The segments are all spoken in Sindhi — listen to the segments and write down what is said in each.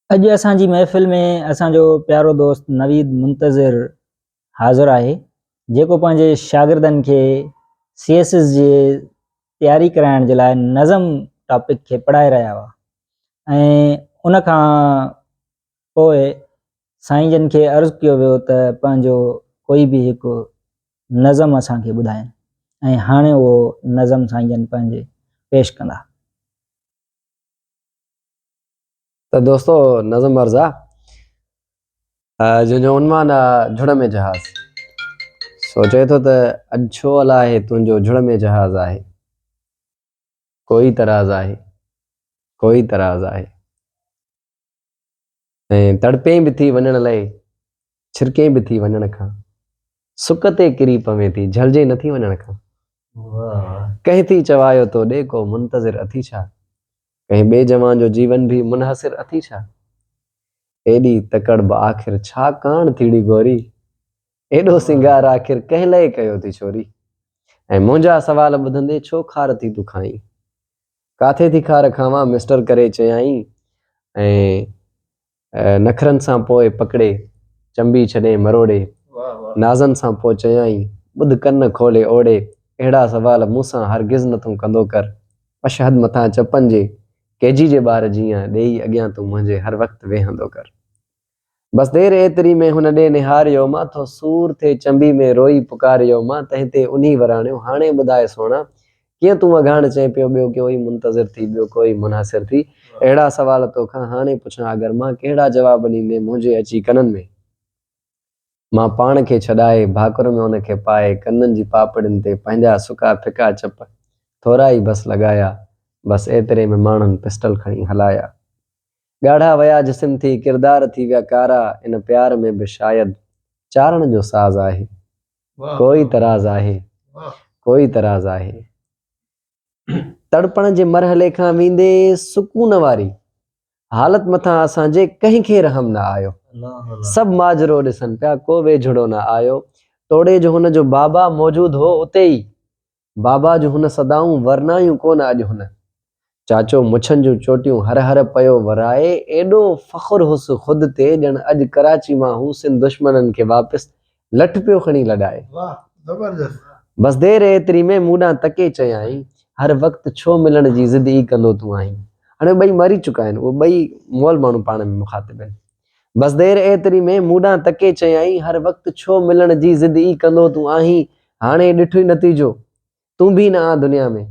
اڄ اسان جي محفل ۾ اسان جو پيارو دوست نويد منتظر حاضر آهي جيڪو پنهنجي شاگردن کي سي ايس ايس جي تياري ڪرائڻ جي لاء نظم ٽاپڪ کي پڙهائي رهيا هئا ۽ ان کان پوء سائين جن کي عرض ڪيو ويو ته پنهنجو ڪوئي به هڪ نظم اسان کي ٻڌائين ۽ هاڻي اهو نظم سائين جن پنهنجي پيش ڪندا. ته دوستو نظم عرض آ جنهن جو عنوان آ جھڙ ۾ جهاز. سو چئي ٿو ته اڄ ڇو الاهي تنهنجو جھڙ ۾ جهاز آهي. ڪوئي تراز آهي ڪوئي تراز آهي. ۽ تڙپين به ٿي وڃڻ لئي، ڇرڪين به ٿي وڃڻ کان، سڪ تي ڪري پوين ٿي، جهلجين نه ٿي وڃڻ کان. ڪنهن ٿي چوايو تو ڏي ڪو منتظر اٿي ڇا؟ ڪنهن ٻئي جوان جو جيون به منحصر اٿي ڇا؟ ايڏي تڪڙ به آخر ڇا ڪاڻ ٿيڙي گوري؟ ايڏو سينگار آخر ڪنهن لئي ڪيو ٿي ڇوري؟ ۽ منهنجا سوال ٻڌندي ڇو خار ٿي تون کائين؟ ڪاٿي ٿي خار کاوان مسٽر ڪري چيائين ۽ نخرن سان پوء پڪڙي چنبي ڇڏين مروڙي نازن سان پوء چيائين ٻڌ ڪن کولي اوڙي اهڙا سوال مون سان هرگز نه تون ڪندو ڪر اشهد مٿان چپن جي ڪيجي جي ٻار جيئن ڏيئي اڳيان تون منهنجي هر وقت ويهندو ڪر. بس دير ايتري ۾ هن ڏي نهاريو مان ٿو سور ٿي چنبي ۾ روئي پڪاريو مان تنهن تي انهي وراڻيو هاڻي ٻڌاء سهڻا ڪيئن تون اگهاڻ چئين پيو ٻيو ڪوئي منتظر ٿي ٻيو ڪوئي منحصر ٿي اهڙا سوال توکان هاڻي پڇان اگر مان ڪهڙا جواب ڏيندين منهنجي اچي ڪنن ۾ مان پاڻ کي ڇڏائي ڀاڪر ۾ ان کي پائي ڪنن جي پاپڙين تي پنهنجا سڪا ڦڪا چپ ٿورا ئي بس لڳايا بس ايتري ۾ ماڻهن پسٽل کڻي هلايا ڳاڙها ويا جسم ٿي ڪردار ٿي ويا ڪارا ان پيار ۾ به شايد چارڻ جو ساز آهي ڪوئي تراز آهي ڪوئي تراز آهي تڙپڻ جي مرحلي کان ويندي سڪون واري حالت مٿان اسان جي ڪنهن کي رحم نه آيو سڀ ماجرو ڏسن پيا ڪو ويجهڙو نه آيو توڙي جو هن جو بابا موجود هو اتي ئي بابا جون هن صدائون ورنايون ڪونه اڄ هن. چاچو مڇن جون چوٽيون هر هر پيو ورائي ايڏو فخر هوس خود تي ڄڻ اڄ ڪراچي مان هو سنڌ دشمنن کي واپس لٺ پيو کڻي لڏائي. بس دير ايتري ۾ مون ڏانهن تڪي چيائين هر وقت ڇو ملڻ جي ضد ئي ڪندو تون آهين. هاڻي ٻئي مري چڪا آهن اهي ٻئي مئل ماڻهو پاڻ ۾ مخاطب آهن. بس دير ايتري ۾ مون ڏانهن تڪي چيائين، هر وقت ڇو ملڻ جي ضد ئي ڪندو تون آهين، هاڻي ڏٺوئي نتيجو، تون به نه آن دنيا ۾،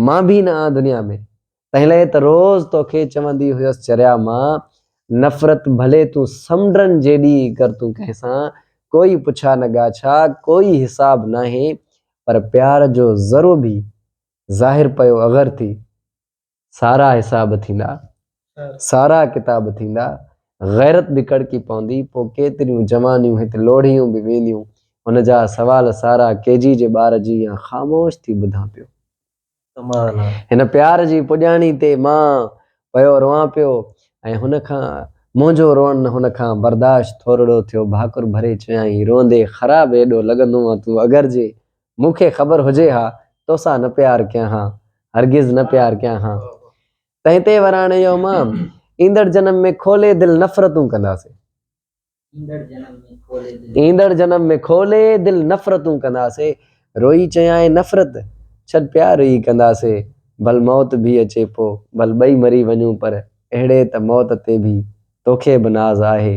مان به نه آن دنيا ۾. تنهن لئي ته روز توکي چوندي هيس چريا مان، نفرت ڀلي تون سمنڊن جيڏي ئي ڪر تون ڪنهن سان، ڪوئي پڇا نه ڳاڇا، ڪوئي حساب ناهي، پر پيار جو ذرو به ظاهر پيو اغر ٿي، سارا حساب ٿيندا سارا ڪتاب ٿيندا غيرت به ڪڙڪي پوندي پو ڪيتريون جوانيون هت لوڙهيون به وينديون هن جا سوال سارا ڪي جي جي ٻار جي يا خاموش ٿي ٻڌان پيو هن پيار جي پڄاڻي تي مان پيو روان پيو ۽ هن کان منهنجو روئڻ هن کان برداشت ٿورڙو ٿيو ڀاڪر ڀري چيائين روئندي خراب ايڏو لڳندو آ تون اگر جي مون کي خبر هجي ها، توسان نه پيار ڪيان ها، هرگز نه پيار ڪيان ها. تنهن تي وراڻي يو مان، ايندڙ جنم ۾ کولي دل نفرتون ڪنداسين. ايندڙ جنم ۾ کولي دل نفرتون ڪنداسين. روئي چيائين نفرت، ڇڏ پيار ئي ڪنداسين. ڀل موت ڀي اچي پو، ڀل ٻئي مري وڃون پر اهڙي ته موت تي ڀي توکي به ناز آهي،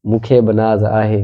مون کي به ناز آهي.